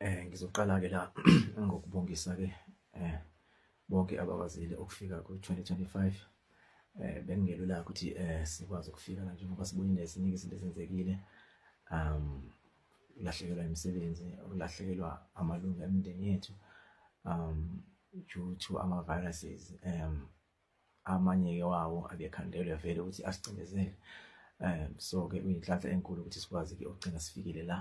Eh ngizoqala ke la ngokubongisa ke eh bonke abakwazile ukufika ku-2025 eh bengelula ukuthi eh sikwazi ukufika la njengoba sibonile eziningi izinto ezenzekile um ulahlekelwa imisebenzi ulahlekelwa amalungu emindeni yethu um due to ama-viruses um amanye-ke wawo akekhandelwe vele ukuthi asicindezele um so-ke kuyinhlanhla enkulu ukuthi sikwazi-ke ukugcina sifikile la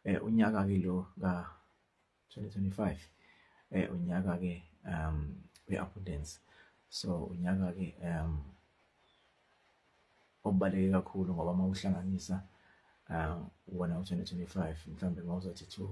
um unyaka-ke lo ka-twenty twenty five um unyaka-ke um we-abundance so unyaka-ke um obaluleke kakhulu ngoba uma uhlanganisa um wona u-twenty twenty five mhlawumbe uma uzothi two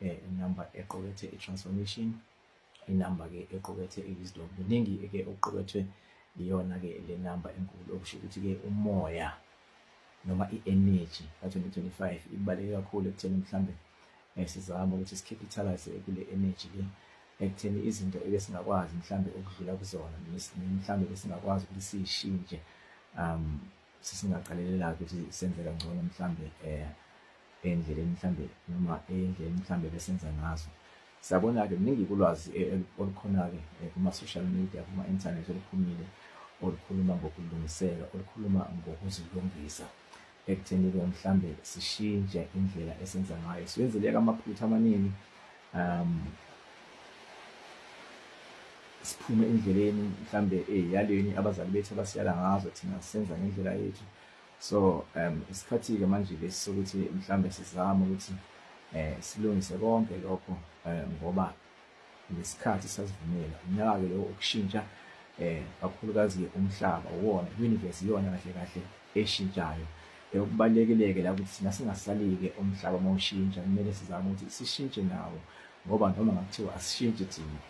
eh, inamba equkethe i-transformation inamba ke equkethe i-wisdom kuningi ke okuqukethwe iyona ke le namba enkulu okusho ukuthi ke umoya noma i-energy ka-2025 ibaluleke kakhulu ekutheni mhlambe eh, sizama ukuthi sikhiphitalise kule energy le ekutheni izinto ebesingakwazi mhlambe ukudlula kuzona mhlambe besingakwazi ukuthi siyishintshe um sisingaqalelela-ke ukuthi senze kangcono mhlawumbe um eh, endleleni mhlawumbe noma endleleni mhlawumbe besenza ngazo siyabona-ke kuningi kulwazi eh, eh, olukhona-ke kuma-social media kuma-inthanethi oluphumile olukhuluma ngokulungiseka olukhuluma ngokuzilungisa ekutheni-ke mhlawumbe sishintshe indlela esenza ngayo siwenzeleka amaphutha amaningi um siphume endleleni mhlambe eyaleni eh, abazali bethu abasiyala ngazo thina senza ngendlela yethu so um isikhathi-ke manje lesi sokuthi mhlambe sizame ukuthi um silungise konke lokho um ngoba ngesikhathi sasivumela unyaka-ke lowo ukushintsha um kakhulukazi-ke umhlaba uwona i-universe iyona kahle kahle eshintshayo okubalulekile-ke la ukuthi thina singasali-ke umhlaba uma ushintsha kumele sizame ukuthi sishintshe nawo ngoba noma ngakuthiwa asishintshi thina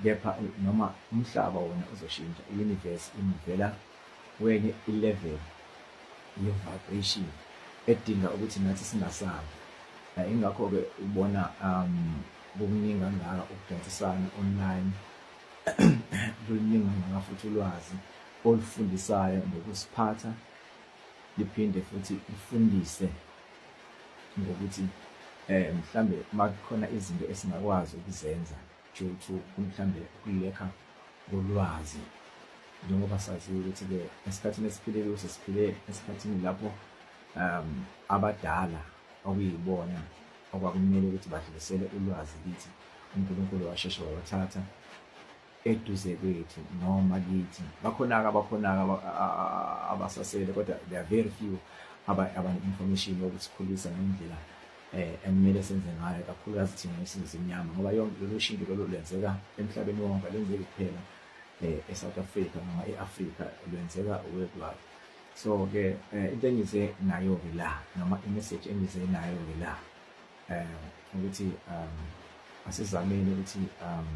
kepha noma umhlaba wona uzoshintsha i-universe imuvela kwenye i-level ye-vibration edinga ukuthi nathi singasabi eh, ingakho-ke ubona um kukuningi kangaka ukudansisana online luningi kangaka futhi ulwazi olufundisayo ngokusiphatha liphinde futhi lifundise ngokuthi eh mhlambe makukhona izinto esingakwazi ukuzenza due to mhlambe ukulekha kolwazi njengoba saziyo ukuthi ke esikhathini esiphile kuso siphile esikhathini lapho um abadala okuyibona okwakumele ukuthi badlulisele ulwazi kithi uNkulunkulu washeshe wabathatha eduze kwethu noma kithi bakhona-ke abakhona-ke abasasele kodwa they are very few abane-information yokusikhulisa ngendlela um eh, ekumele senze ngayo kakhulukazi thina esinzimnyama ngoba yonke lolu shintsho lolu lwenzeka emhlabeni wonke lwenzeki kuphela um e-south africa noma e-afrika lwenzeka worldwide so-ke um eh, into engize nayo-ke la noma imeseji engize nayo-ke la um ukuthi um asizameni ukuthi um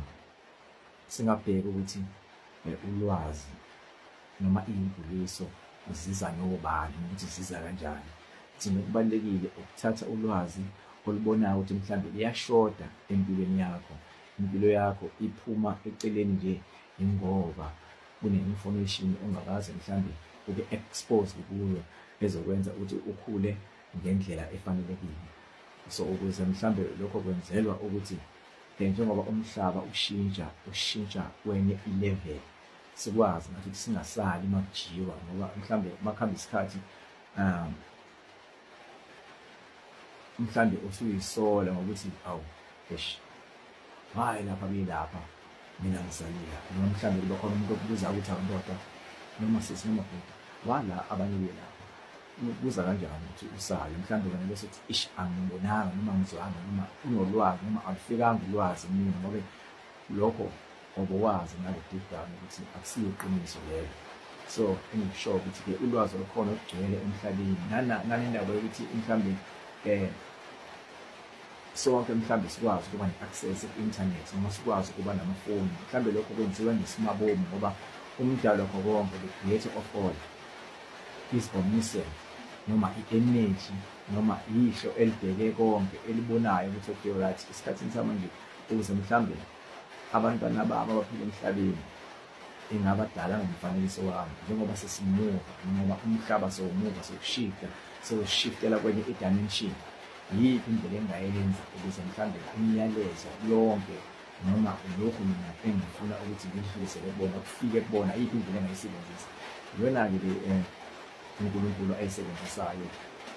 Singabheka ukuthi eh, ulwazi noma iyimbuliso ziza nobani ukuthi ziza kanjani. Thina kubalulekile ukuthatha ulwazi olubonayo ukuthi mhlawumbe liyashoda empilweni yakho. Impilo yakho iphuma eceleni nje ingoba kune-information ongakaze mhlawumbe ube exposed kuyo ezokwenza ukuthi ukhule ngendlela efanelekile so ukuze mhlambe lokho kwenzelwa ukuthi Then njengoba umhlaba ushintsha ushintsha kwenye ilevel sikwazi ngathi singasali makujiwa ngoba mhlambe makuhamba isikhathi um mhlambe usuyisola ngokuthi awu eish hayi lapha kuyilapha mina ngisalile noma mhlambe kuba khona umuntu okubuza ukuthi awundoda noma sisi noma bhuti wala abanye kuyilapha ubuza kanjani ukuthi usayo mhlawumbe wena bese uthi ish angimbonanga noma ngizwanga noma unolwazi noma alufikanga ulwazi mina ngobe lokho ngoba wazi ngale deep down ukuthi akusiyo iqiniso lelo so engikusho ukuthi ke ulwazi olukhona olugcwele emhlabeni nanendaba yokuthi mhlawumbe um sonke mhlawumbe sikwazi ukuba ne-access ku-internet noma sikwazi ukuba namafoni mhlawumbe lokho kwenziwa ngesimabomu ngoba umdalo wakho konke the creator of all Isbonniselo noma i-eneji noma ihlo elibheke konke elibonayo ukuthi okuyho right esikhathini samanje ukuze mhlawumbe abantwana babo abaphila emhlabeni ingabadala ngomfanekiso wami njengoba sesimuva njengoba umhlaba sewumuva sewushifta sewushiftela kwenye idimension yiyiphi indlela engingayenza ukuze mhlawumbe imiyalezo yonke noma lokhu mina engifuna ukuthi ngilidlulisele kubona kufike kubona iyiphi indlela engayisebenzisa iyona-ke le um unkulunkulu ayisebenzisayo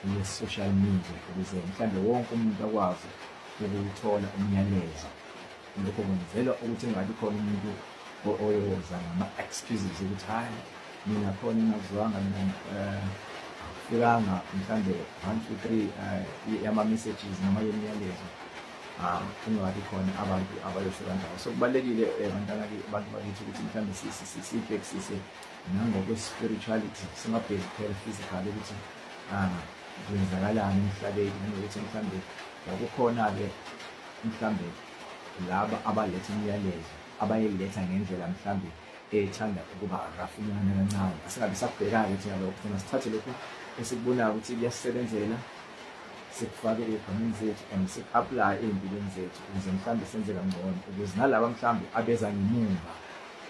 ye-social media ukuze mhlawumbe wonke umuntu akwazi ukuthola umyalezo lokho kwenzelwa ukuthi kungabi khona umuntu oyoza ngama-excuses ukuthi hhayi mina khona ingazwanga mina um fikanga mhlawumbe one two three um yama-messages noma yemiyalezo um kungabi khona abantu abayofika ndawo so kubalulekile eh, bantwana-ke abantu bakithi ukuthi mhlawumbe sibhekisise nangokwe-spirituality singabheki kuphela physical ukuthi um kwenzakalani emhlabeni nanokuthi mhlawumbe yakukhona-ke mhlawumbe laba abaletha imiyalezo abayiletha ngendlela mhlawumbe ethanda ukuba rafunyana kancane asingabe sakubhekake thina lokho funa sithathe lokhu esikubonayo ukuthi kuyasisebenzela sikufake ey'bhamini zethu and siku-aplaye ey'mpilweni zethu ukuze mhlawumbe senze kangcono ukuze nalaba mhlawumbe abeza ngemumva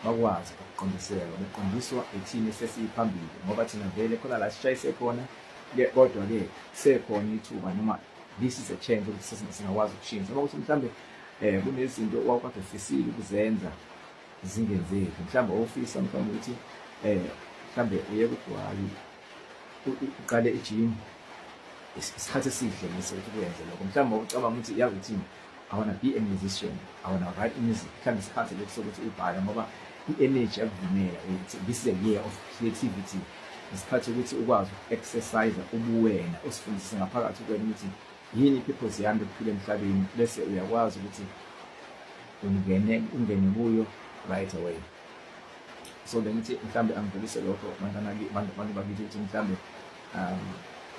bakwazi ukuqondiselwa beqondiswa ithini sesiyiphambili ngoba thina vele khona la sishayise khona kodwa-ke sekhona ithuba noma this is a change ukuthi singakwazi ukushintsha noma ukuthi mhlawumbe um kunezinto owawukade ufisile ukuzenza zingenzeki mhlawumbe ofisa mhlawumbe ukuthi eh mhlawumbe uye kugwayi uqale ijim isikhathi esihle ngise ukuthi kuyenze lokho mhlawumbe ucabanga ukuthi yazi uthini I want to be a musician I want to write music mhlawumbe isikhathi lesi sokuthi ubhale ngoba i-energy yakuvumela ukuthi this is a year of creativity isikhathi ukuthi ukwazi uku-exercise ubuwena usifundise ngaphakathi kwena ukuthi yini i-purpose yami yokuphila emhlabeni bese uyakwazi ukuthi ungene ungene kuyo right away so bengithi mhlambe angidlulise lokho abantu bakithi ukuthi mhlambe um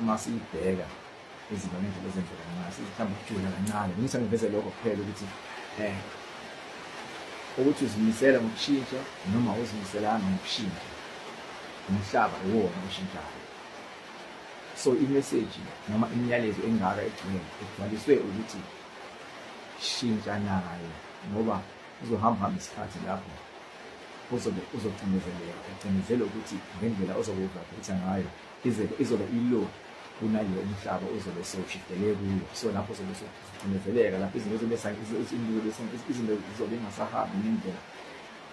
uma siyibheka izinto ngendlela ezenzeka ngayo sizihlambe ukujula kancane bengithi angiveze lokho kuphela ukuthi um ukuthi uzimisela ngokushintsha noma uzimiselanga ngokushintsha umhlaba iwona oshintshayo so imeseji noma imiyalezo engaka egcwele egcwaliswe ukuthi shintsha naye ngoba uzohamba hamba isikhathi lapho uzobe uzocindezeleka ucindezelwe ukuthi ngendlela ozobe uvaphitha ngayo izobe ilo kunale umhlaba uzobe sewushidele kuyo so lapho uzobe ucindezeleka lapho izinto zobe izinto zizobe ingasahambi ngendlela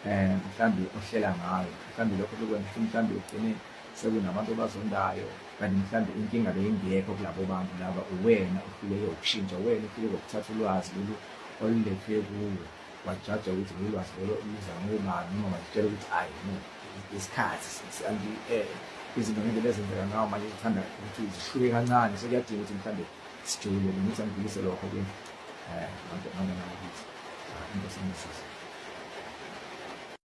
um mhlawumbe ohlela ngayo mhlawumbe lokho lokwenza mhlawumbe ugcine sekunabantu obazondayo kanti mhlawumbe inkinga beyingekho kulabo bantu laba uwena uhluleke ukushintsha uwena uhluleke ukuthatha ulwazi lolu olulethwe kuwe wajaja ukuthi lolu lwazi lolo luzama ubani noma wazitshela ukuthi ayi no isikhathi eh, izinto ngendlela ezenzeka ngawo manje zithanda ukuthi zihluke kancane sekuyadinga ukuthi mhlawumbe sijule ngithi angibuyise lokho ke um ngangenakuthi into sengisiza